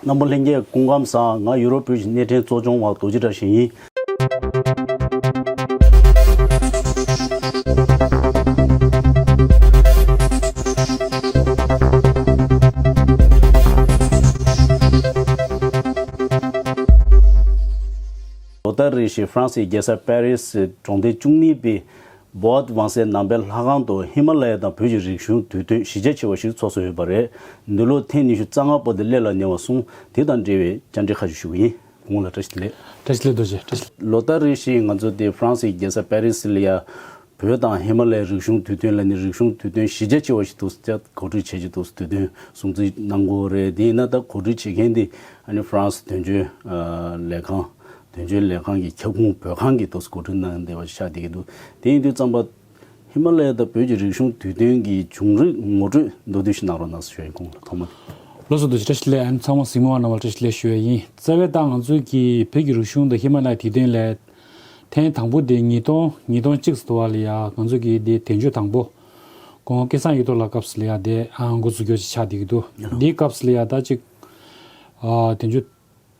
སྣམ་བུ་ལྷན་རྒྱས་སྐུ་ཁམས་བཟང་ང་ཡུ་རོབ་བོད་ཀྱི་གནས་ཕྲན་གཙོ་སྐྱོང་བ་རྡོ་རྗེ་བཀྲ་ཤིས་ཡིན། ལོ་ཟླ་རེ་བཞིན་ཧྥ་རན་སིའི་རྒྱལ་ས་པར་རིས་གྲོང་སྡེ་བཅུ་གཉིས་པའི Boat Wang སའི་ནང་པའི་ལྷ་ཁང་དུ་ཧི་མ་ལ་ཡ་དང་བོད་ཀྱི་རིག་གཞུང་དུས་སྟོན་གཞི་རྒྱ་ཆེ་བ་ཞིག་ཚོགས་སུ་ཡོད་པ་རེད། འདི་ལོ་ཐེངས་ཉི་ཤུ་རྩ་ལྔ་པོ་དེ་སླེབས་ལ་ཉེ་བ་སོང་དེ་དང་འབྲེལ་བའི་བཅར་འདྲི་ཁ་ཤས་ཞུ་གི་ཡིན་གོང་ལ་བཀྲ་ཤིས་བདེ་ལེགས། བཀྲ་ཤིས་བདེ་ལེགས་རྡོ་རྗེ། ལོ་ལྟར་རེ་བཞིན་ང་ཚོ་སྟེ་ཧྥ་རན་སིའི་རྒྱལ་ས་པེ་རི་སི་ལ་ཡ། བོད་དང་ཧི་མ་ལ་ཡའི་རིག་གཞུང་དུས་སྟོན་ལ་ནི་རིག་གཞུང་དུས་སྟོན་གཞི་རྒྱ་ཆེ་བ་ཞིག་ཏུ་གོ་སྒྲིག་བྱེད་ཀྱི་འདུག་དུས་སྟོན་སྲུང་བརྩི་གནང་དགོས་རེད་དེ་ཡིན་ན་ད་གོ་སྒྲིག་བྱེད་མཁན་དེ་ཧྥ་རན་སི་དོན་གཅོད་ལས་ཁང་དོན་གཅོད་ལས་ཁང་གི་ཁྱབ་ཁོངས་བོད་ཁང་གི་ཐོག་སྐོར་སྐྲུན་གནང་བདེ་བ་ཤར་བསྡད་ཀྱི་འདུག་དེ་ཡིན་དུས་རྩམ་པ། ཧི་མ་ལ་ཡ་དང་བོད་ཀྱི་རིག་གཞུང་དུས་སྟོན་གྱི་བྱུང་རིགས་ངོ་སྤྲོད་མདོར་བསྡུས་ཤིག་གནང་རོགས་གནང་ཞེས་ཁོང་ལ་ཐོག་མ་དེ། ལོ་སོ་དུ་ཕྱི་དྲ་ཕྱི་ལས་ཨན་ཚང་མ་གཟིགས་མོ་བ་རྣམས་ལ་བཀྲ་ཤིས་ལེགས་ཞུ་བས་ཡིན་རྩ་བའི་ཏང་ང་ཚོས་ཀྱིས་བོད་ཀྱི་རིག་གཞུང་དང་ཧི་མ་ལ་ཡའི་དུས་སྟོན་ལས། ཐེངས་དང་པོ་དེ་ཉིས་སྟོང་ཉིས་སྟོང་གཅིག་སོ་དུ་བ་ལ་ཡ་ང་ཚོས་ཀྱིས་དེ་དེ་མཆོད་དང་པོ། གོང་སྐལ་བཟང་ཡིག་ཐོག་ལ་སྐབས་སུ་ལ་ཡ་དེ་འགོ་འཛུགས་སྐྱོར་བྱེད་ཆགས་བསྡད་ཀྱི་འདུག་དེའི་སྐབས་སུ་ལ་ཡ་ད་ཅིག། དེ་མཆོད།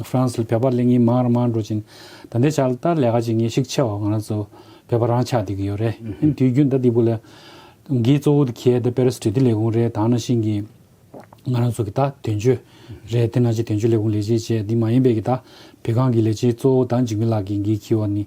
ཧྥ་རན་སི་ལ་བོད་པ་གླེང་མཁན་མང་རང་མང་འགྲོ་ཅིང། ད་ལྟའི་ཆར་ལྟར་ལས་ཀ་བྱེད་མཁན་ཤུགས་ཆེ་བ་ང་རང་ཚོ་བོད་པ་རང་ཆགས་བསྡད་ཀྱི་ཡོད་རེད། དེ་དུས་རྒྱུན་ལྟར་འདི་བུ་ལ་འགིས་གཙོ་བོ་དུ་གྱེས་ཏེ་པེ་རེ་སི་དྲིལ་བསྡུ་ལས་ཁུངས་རེད་དང་ན་ཤིང་གིས་ང་རང་ཚོ་གི་ད་དོན་གཅོད་རེད་དེ་ན་ཆེ་དོན་གཅོད་ལས་ཁུངས་ལས་བྱེད་བྱས་འདི་མ་ཡིན་པའི་གི་ད་བོད་ཁང་གི་ལས་བྱེད་གཙོ་བོ་ད་འཇིགས་མེད་ལགས་ཀྱིས་འགིས་གྱིས་བ་ནི།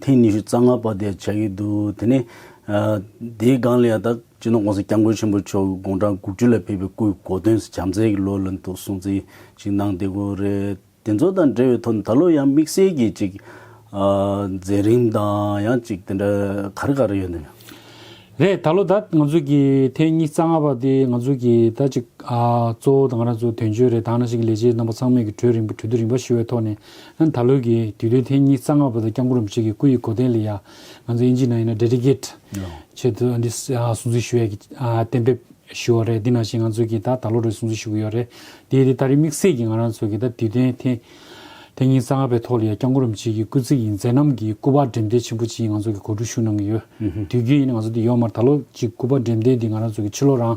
ཐེངས་ཉི་ཤུ་རྩ་ལྔ་པ་དེ་བྱ་ཡི་འདུག་དེ་ནས། དེའི་སྒང་ལས་ད་ཅི་ནུས་དགོངས་སེལ་སྐྱབས་མགོན་ཆེན་པོ་མཆོག་གི་དགོངས་གྲངས་དགུ་བཅུ་ལ་ཕེབས་པའི་སྐུའི་དགོངས་དོན་བྱམས་བརྩེ་གི་ལོ་ལ་འདུག་གསུང་ཚིག་ཅིག་གནང་བདེ་དགོས་རེད། དེ་ཚོ་དང་འབྲེལ་བའི་ཐོག་ནས་ད་ལོ་ཡང་དམིགས་བསལ་གྱིས་ཅིག། མཛད་རིམ་དང་ཡང་ཅིག་དེ་འདྲ་ག་རེ་ག་རེ་ཡོད་ནམ། རེད་ད་ལོ་ད་ང་ཚོས་ཀྱི་ཐེངས་ཉི་རྩ་ལྔ་པ་དེ་ང་ཚོས་ཀྱི་ད་ཅིག། གཙོ་བོ་ད་ང་རང་ཚོ་དོན་གཅོད་རེད་ད་ང་རང་ཞིག་གི་ལས་བྱེད་རྣམ་པ་ཚང་མས་ཀྱི་གྲོས་རིང་པོ་གྲོས་བསྡུར་རིང་པོ་ཞུས་བའི་ཐོག་ནས་ད་ལོའི་གི་དུས་སྟོན་ཐེངས་གཉིས་རྩ་སྔ་བ་དང་སྐྱབས་མགོན་རིན་པོ་ཆེ་གི་སྐུ་ཡི་གོ་དན་ལ་ཡང་ང་ཚོ་དབྱིན་ཇིའི་ནང་ཡིན་ན Dedicate ཆེད་དུ་འདི་སྲུང་བརྩི་ཞུ་ཡས་ཀྱི་གཏན་འབེབས་ཞུ་བ་རེད་འདི་ནང་བཞིན་ང་ཚོ་གི་ད་ད་ལོ་རེ་སྲུང་བརྩི་ཞུ་གི་ཡོད་རེད་དེ་དེ་ད་རེས་དམིགས་བསལ་གྱི་ང་རང་ཚོ་གི་ད་དུས་སྟོན་ཐེངས་ཐེངས་གཉིས་རྩ་སྔ་བའི་ཐོག་ལ་ཡང་སྐྱབས་མགོན་རིན་པོ་ཆེ་གི་སྐུ་ཚེ་ཡི་མཛད་རྣམ་གི་སྐུ་པར་འགྲེམས་སྟོན་ཆེན་པོ་གཅིག་ང་ཚོ་གི་གོ་སྒྲིག་ཞུ་གནང་གི་ཡོད་དུས་རྒྱུན་ཡིན་ན་ང་ཚོ་འདི་ཡོང་མར་ད་ལོ་གཅིག་སྐུ་པར་འགྲེམས་སྟོན་འདི་ང་རང་ཚོ་གི་ཕྱི་ལོ་རང་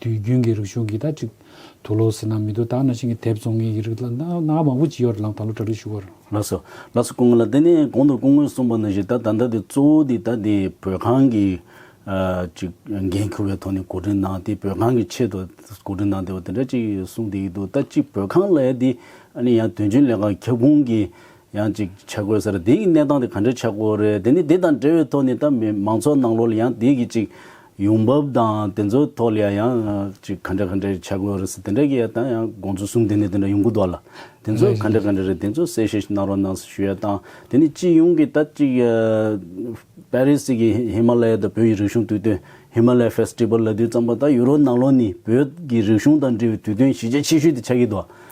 དུས་རྒྱུན་གྱི་རིག་གཞུང་གིས་ད་ཅིག་དུ་ལོ་ཟེར་ན་མི་འདུག་ད་ན་ཤིང་གི་དེབ་བཙོང་མཁན་གྱི་རིགས་ལ་ན་ག་མང་པོ་ཇི་ཡོད་རེད་ལམ་ད་ལོ་གྲ་སྒྲིག་ཞུ་གོ། ལགས་སོ། ལགས་སོ་སྐུ་ངོ་ལ་དེ་ནས་གོང་དུ་སྐུ་ངོས་གསུངས་པ་ནང་བཞིན་ད་ད་ལྟ་དེ་གཙོ་བོ་དེ་ད་དེ་བོད་ཁང་གི་ཅིག་འགན་ཁུར་བའི་ཐོག་ནས་གོ་སྒྲིག་གནང་དེ་བོད་ཁང་གི་ཆེད་དུ་གོ་སྒྲིག་གནང་དེ་བ་དེ་འདྲ་ཅིག་གསུངས་དེ་ཡིན་འདུག་ད་ཅིག་བོད་ཁང་ལ་ཡ་དེ་ཨ་ནི་ཡང་དོན་གཅོད་ལས་ཁང་ཁྱབ་ཁོངས་ཀྱི་ཡང་གཅིག་ཆ་བགོས་ཟེར་དེའི་གནས་སྟངས་དེ་ག་འདྲའི་ཆ་བགོས་རེད་དེ་ནི་དེ་དང་འབྲེལ་བའི་ཐོག་ནས་ད་མི་མང་ཚོགས་ནང་ལོགས་ལ་ཡང་དེའི་གི་གཅིག་ཡོང་འབབ་དང་དེ་ཚོའི་ཐོག་ལ་ཡང་ཡང་གཅིག་ག་འདྲ་ག་འདྲའི་ཆ་བགོས་རེད་ཟེར་དེ་འདྲ་གི་ཡང་ད་ཡང་དགོངས་ཚུལ་གསུམ་དེ་ནས་དེ་འདྲ་ཡོང་གི་འདུག་ལ་དེ་ཚོ་ག་འདྲ་ག་འདྲ་རེད་དེ་ཚོ་གསལ་བཤད་ཞིག་གནང་རོགས་གནང་ཞེས་ཞུ་ཡ་དང་དེ་ནི་སྤྱི་ཡོངས་ཀྱི་ད་གཅིག་པེ་རི་སི་གི་ཧི་མ་ལ་ཡའི་ད་བོད་ཀྱི་རིག་གཞུང་དུས་སྟོན Himalaya Festival ལ་དུས་བརྩམས་པ་ད་ཡུ་རོབ་ནང་ལོགས་ནི་བོད་ཀྱི་རིག་གཞུང་དང་འབྲེལ་བའི་དུས་སྟོན་གཞི་རྒྱ་ཆེ་ཤོས་དེ་ཆགས་ཀྱི་འདུག།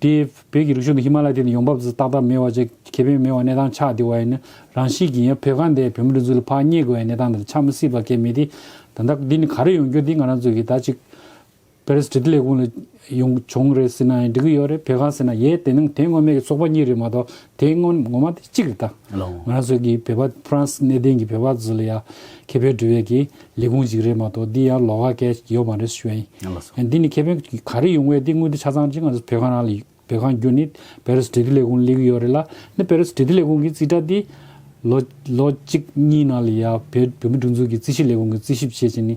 དེས་བོད་ཀྱི་རིག་གཞུང་དེ་ཧི་མ་ལ་ཡི་སྟེང་དུ་ཡོང་འབབ་ཙི་ཏག་ཏག་མེད་བ་བཅས་ཁེ་ཕན་མེད་བར་གནས་སྟངས་ཆགས་བསྡད་བ་ཡིན་ན་རང་ཤི་གི་ཡིན་བོད་ཁ་འདས་བོད་མི་རིགས་ཚོ་ལ་ཕག་རྙེད་དགོས་བའི་གནས་སྟངས་འདིར་ཆགས་མི་སྲིད་པ་གལ་མེད་དེ། ད་ལྟ་འདི་ནི་ག་རེ་ཡོང་རྒྱུ་འདི་ང་རང་ཚོ་གིས་ད་ཅིག་བེ་རེས་བྲི་ཏི་ལས་ཁུངས་ལ་ཡོང་བྱུང་རེད་ཟེར་ན་ཡང་འགྲིག་གི་ཡོད་རེད་བོད་ཁ་ཟེར་ན་ཡས་དེ་ནང་དེ་ངོ་མས་ཀྱི་ཚོགས་པ་གཉིས་རེད་མ་གཏོགས་དེའི་སྔོན་ངོ་མ་དེ་གཅིག་རེད་ད། ང་རང་ཚོའི་གི་བོད་པ་ཕ་རན་སི་གནས་བརྟན་གི་བོད་པ་ཚོ་ལ་ཡ་ཁེ་ཕན་སྒྲུབ་ཡས་གི་ལས་ཁུངས་གཅིག་རེད་མ་གཏོགས་འདི་ཡང་ལོག་ཀ་ཀས་ཡོད་མ་རེད་ཞུ་ཡ་ཡིན། འདི་ནི་ཁེ་ཕན་ག་རེ་ཡོང་བས་འདི་དངུལ་འདི་ཆ་ཚང་ཅི་ང་ཚོ་བོད་ཁང་རང་ལ་བོད་ཁང་རྒྱུ་ནི་བེ་རུ་སི་བྲེ་ལྡི་ལས་ཁུངས་ལས་གི་ཡོད་རེད་ལ་འདི་བེ་རུ་སི་བྲེ་ལྡི་ལས་ཁུངས་གི་རྩིས་ཁྲ་འདི་ལོ་ལོ་གཅིག་གཉིས་ནང་ལ་ཡ་བོད་མི་སྒྲུང་འཛུགས་གི་རྩིས་ཞིབ་ལས་ཁུངས་གི་རྩིས་ཞིབ་བྱས་ཅི་ནི་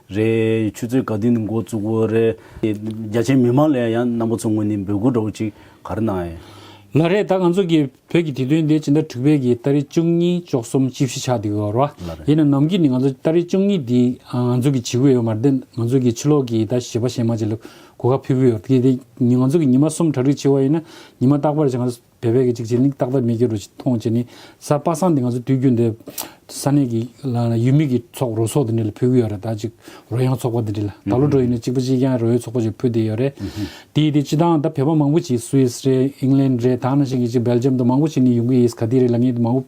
རེད། ཆུ་ཚོད་ག་དུས་ནས་འགོ་བཙུགས་འོས་རེད། རྒྱ་ཆེའི་མི་མང་ལས་ཡང་རྣམ་པ་ཚོ་ངོས་ནས་འབོད་སྐུལ་འདྲ་བོ་ཅིག་ག་རེ་གནང་ཨེ། ལ་རེད་ད་ང་ཚོ་གི་བོད་ཀྱི་དུས་སྟོན་དེ་ཇི་འདྲ་འགྲིག་བལ་གི་སྟ་རི་བཅུ་གཉིས་བཅུ་གསུམ་བཅུ་བཞི་ཆགས་འདུག་གི་རོ། ལ་རེད། ཡིན་ན་ནམ་གྱི་ནས་ང་ཚོ་སྟ་རི་བཅུ་གཉིས་འདི་ང་ཚོ་གི་བྱེད་གི་ཡོད་མ་རེད་དེ་ང་ཚོ་གི་ཕྱི་ལོག་གི་ད་བྱེད་པ་ཞེ་མ་བྱེད་ལ་གོ་ཁ་ཕུད་གི་ཡོད་རེད་དེ་ང་ཚོ་གི་ཉི་མ་གསུམ་གྲ་སྒྲིག་བྱེད་བ་ཡིན་ན་ཉི་མ་རྟག་པར་ང་ཚོ་བལ་བལ་གྱི་འཇིགས་བྱེད་གླིང་སྟག་ལྡབ་མེ་ཁྱེར་རུ་ཆེ་མཐོང་བྱེད་ནི་ས་དཔག་སངས་ཏེ་ང་ཚོ་དུས་རྒྱུན་འདི་ས་གནས་ཀྱི་ཡུལ་མི་གི་ཚོགས་རོ་སོགས་དེ་འདྲ་ལ་ཕུལ་གི་ཡོད་རེད་ད་ཅིག་རོ་ཡང་ཚོགས་པ་དེ་འདྲ་ལ་ད་ལོ་འགྲོ་ཡིན་ན་གཅིག་པ་གཅིག་རྐྱང་རོའི་ཚོགས་པ་ཅིག་ཕུལ་བསྡད་ཡོད་རེད་དེ་ཡིན་དེ་སྤྱི་དང་ད་བལ་བོ་མང་པོ་ཅིག Swiss རེད England རེད་ད་ནང་བཞིན་གྱི་ཅིག Belgium དུ་མང་པོ་ཅིག་ནི་ཡོང་གི་ཡིས་ག་དུས་རེད་ལ་ངས་དུ་མ་བོ།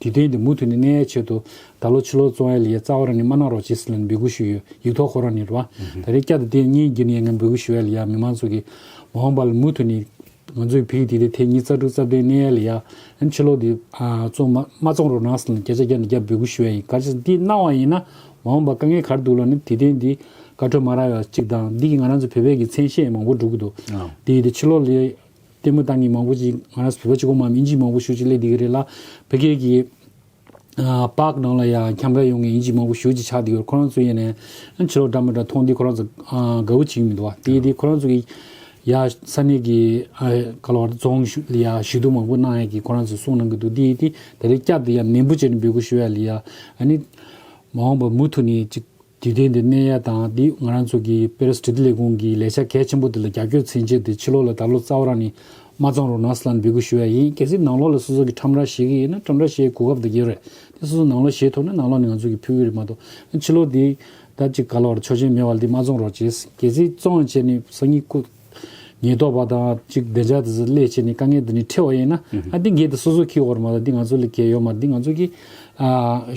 དེ་བསྟན་ཏེ་མུ་མཐུད་ནས་གནས་ཡའི་ཆེད་དུ། ད་ལོ་ཕྱི་ལོར་བཙོང་ཡའི་ལི་ཡའི་རྩ་བ་རང་ཉིད་མ་གནང་རོགས་ཇི་སྲིད་ལ་ནི་འབོད་སྐུལ་ཞུས་ཡོད་ཡིག་ཐོག་ཁོ་རང་ཉིད་རོ། ད་རེས་བསྐྱར་དུ་དེ་གཉིས་བགྱིས་ནས་ཡ་ངའི་འབོད་སྐུལ་ཞུ་ཡའི་ལི་ཡའི་མི་མང་ཚོགས་ཀྱིས། མ་འོངས་པ་ལ་མུ་མཐུད་ནས། ང་ཚོའི་བོད་ཡིག་དེ་ལྟའི་ཐེངས་གཉིས་རྩ་དྲུག་རྩ་བདུན་གནས་ཡའི་ལི་ཡ། ཕྱི་ལོར་དེ། བཙོང། མ་བཙོང་རོགས་གནང་སྲིད་ལ་ནི་བརྒྱ་ཆ་བརྒྱ་ནས་བརྒྱ་འབོད་སྐུལ་ཞུ་ཡ་ཡིན་ག་ཇི་སྲིད་འདི་གནང་བ་ཡིན་ན། མ་འོངས་པ་དཀའ་ངལ་གར་འདུག་ལ་ནི་དེ་བསྟན་ཏེ། བཀའ་ཁྲོལ་མ་རག་ཡ་གཅིག་དང་འདི་གིས་ང་རང་ཚོའི་བོད་པའི་གི་མཚན་ཤས་མང་པོ་འགྲུབ་ཀྱི་འདུག་དེ་ཡིན་ཏེ་ཕྱི་ལོར་ལི། ལྟད་མོ་བདག་གཉིས་མང་པོ་ཅིག་ང་རང་བོད་པ་ཆུ་གོང་མ་མིན་གྱིས་མང་པོ་ཞུ་ཅིག་གླེད་དེ་གི་རེད་ལ་བོད་སྐད་ཀྱི་པགས་ནང་ལ་ཡང་ཁྱམས་ར་ཡོང་གི་ཡིན་གྱིས་མང་པོ་ཞུ་ཅིག་ཆགས་དེ་གི་རེད་ཁོ་རང་ཚོ་ཡེ་ནས་ཕྱི་ལོག་འདྲ་མ་འདྲ་མཐོང་དུས་ཁོ་རང་ཚོ་དགའ་བོ་བྱེད་ཀྱི་མི་འདུག་བ་དེ་དེ་ཁོ་རང་ཚོ་གི་ཡ་ས་གནས་ཀྱི་ག་ལ་བ་རྫོང་ལ་ཡ་ཞུ་གཏུག་མང་པོ་གནང་ཡ་གི་ཁོ་རང་ཚོ་གསུངས་གནང་གི་འདུག་དེ་དེ་ད་རེས་བསྐྱར་དུ་ཡ་ནན་པོ་བྱས་ནས་འབོད་སྐུལ་ཞུ་ཡ་ལ་ཡ་ཨ་ནི་མ་འོངས་པ་མུ་མཐུད་ནས་ཅིག་དུས་དེབ་འདི་གནས་ཡས་དང་དེའུ་ང་རང་ཚོ་གི་པེ་རིས་བྲིས་རྡུལ་ལས་ཁུངས་ཀྱི་ལས་བྱ་གལ་ཆེན་པོ་འདི་ལ་རྒྱབ་སྐྱོར་ཚན་ཆེ་འདི་ཕྱི་ལོག་ལ་ད་ལོ་རྩ་བ་རང་ནས་མ་བཙང་རུང་ནགས་སི་ལ་ནས་འབུད་དགོས་ཞུ་ཡས་ཡིན་གལ་སྲིད་ནགས་ལོག་ལ་སོ་སོ་གི་ཁྲམ་ར་བཞེས་གི་ཡིན་ན་ཁྲམ་ར་བཞེས་གོ་སྐབས་འདི་གྱེར་རེད་དེ་སོ་སོ་ནགས་ལོག་བཞེས་ཐུབ་ན་ནགས་ལོག་ནས་ང་ཚོ་གི་ཕུལ་གི་རེད་མ་གཏོགས་ཕྱི་ལོག་འདི་ད་གཅིག་ག་ལ་བར་ཆོག་ཆེན་མེད་བ་ལ་འདི་མ་བཙོང་རོགས་བྱས་གལ་སྲིད་བཙོང་ཡང་བྱས་ནས་སང་ཉིན་ཁུ་ཉེས་རྟོག་པ་དང་གཅིག་བདེ་འཇགས་དེ་ཚོ་སླད་བྱས་ནས་དཀའ་ངལ་འདི་ནས་ཁྲེལ་བ་ཡིན་ན་ཨ་འདི་འགས་འདི་སོ་སོ་གི་འོག་རེད་མ་གཏོགས་འདི་ང་ཚོ་ལ་གལ་ཡོད་མ་འདི་ང་ཚོ་གི་ཨ།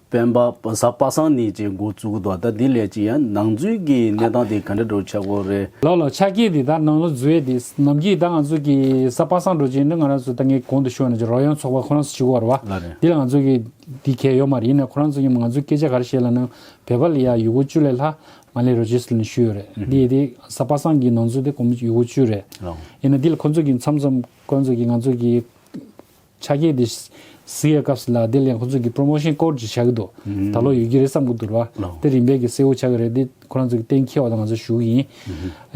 སྤེན་པ་ཟ་པ་སང་ནི་ཅེས་འགོ་བཙུགས་འདུག་ད་འདི་ལས་ཅི་ཡང་ནང་རྫུན་གྱི་གནས་སྟངས་དེ་ག་འདྲ་འགྲོ་ཆགས་པོ་རེད། ལོ་ལོ་ཆགས་ཀྱི་འདི་ད་ནང་ལོ་རྫུན་ཡོད་དེ་ནམ་གྱི་ད་ང་ཚོ་གི་ཟ་པ་སང་འགྲོ་ཅི་ཡིན་ང་རང་ཚོ་ད་ངའི་གོང་དུ་ཤོར་ནས་ཀྱི་རོགས་ཡང་ཚོགས་པ་ཁོ་རང་ཚོ་བྱིའུ་བར་བ་འདི་ལ་ང་ཚོ་གི་འདི་གས་ཡོད་མ་རེད་ཡིན་ན་ཁོ་རང་ཚོ་ཡིན་མ་ང་ཚོ་སྐད་ཆ་ག་རེ་བཤད་ལ་ནང་བོད་པ་ལ་ཡང་ཡུ་གུ་བཅུ་ལས་ལྷག་མ་ལས་རོ་བྱེད་སུ་ལ་ནི་ཤུལ་ཡོད་རེད་འདི་དེ་ཟ་པ་སང་གི་ནང་ཚོ་དེ་གོམ་ཡུ་གུ་བཅུ་རེད་ཡིན་ན་འདི་ལ་ཁོ་ཚོ་གི་མཚམས་མཚམས་ཁོ་རང་ཚོ་གི་ང་ཚོ་གི། ཆ་རྐྱེན་དེ་བཟི་ཡའི་སྐབས་སུ་ལ་དེ་ལས་ཁོ་ཚོས་ཀྱི promotion སྐོར་ཅིག་བྱ་གི་འདུག་ད་ལོ་ཡོད་ཀྱི་རེད་བསམ་གི་འདུག་ར་དེ་རིམ་པས་ཀྱི་གསལ་བོ་བྱ་གི་རེད་དེ་ཁོ་རང་ཚོ་ཀྱི་གཏན་འཁེལ་བ་དང་ང་ཚོ་ཞུགས་ཡིན།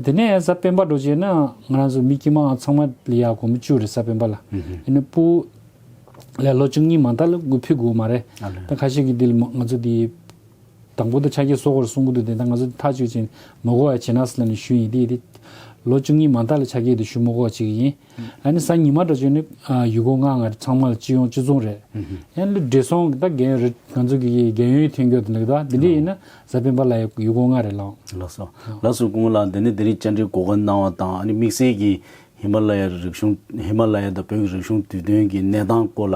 དེ་ནས་གཟའ་སྤེན་པ་འགྲོ་རྗེས་ན་ང་རང་ཚོ་མི་དཀྱིལ་མའང་ཚང་མ་ལི་ཡ་གོང་མི་བཅུ་རེད་གཟའ་སྤེན་པ་ལ་ཡིན་ན་པུ་ལས་ལོ་བཅུ་གཉིས་མང་དག་ལ་དགུ་ཕུད་དགོས་མ་རེད་ད་ཁ་ཤས་ཀྱི་དེ་ལ་ང་ཚོ་དེ་དང་པོ་དེ་ཆ་རྐྱེན་བཟོ་དགོས་རེད་གསུང་གི་འདུག་དེ་ད་ང་ཚོ་དེ་ཐག་གཅོད་བྱེད་མ་གོ་བ་ཡ་བྱེད་ན་སི་ལ་ནས་ཞུས་ཡིན་དེ་ཡིན་དེ་ལོ་བཅུ་གཉིས་མང་དག་ལ་ཆ་རྐྱེན་དེ་ཞུ་མ་གོ་བ་བྱེད་ཀྱི་ཡིན། ཨ་ནི་སང་ཉི་མ་འདྲ་བྱོན་ནི། ཡུལ་སྐོར་ང་ང་ཚང་མ་ལ་སྤྱི་ཡོངས་སྤྱི་མཚུངས་རེད། ཡང་ལི་བགྲེས་སོང་གི་ད་རྒན་ཡོལ་རེད་ང་ཚོ་གི་རྒན་ཡོལ་ཐེན་ཁྱོ་ལེགས་ད་འདི་འདྲས་ཡིན་ན་གཟའ་སྤེན་པ་ལ་ཡ་ཡུལ་སྐོར་ང་རེད་ལང། ལགས་སོ། ལགས་སོ་ཀུན་ལ་འདི་ནི་འདི་རིགས་བཅར་འདྲིའི་གོ་སྐོན་གནང་བ་དང་ཨ་ནི་དམིགས་བསལ་གྱིས་ཧི་མ་ལ་ཡ་རིག་གཞུང་ཧི་མ་ལ་ཡ་དང་བོད་ཀྱི་རིག་གཞུང་དུས་སྟོན་གྱི་གནས་སྟངས་སྐོར་ལ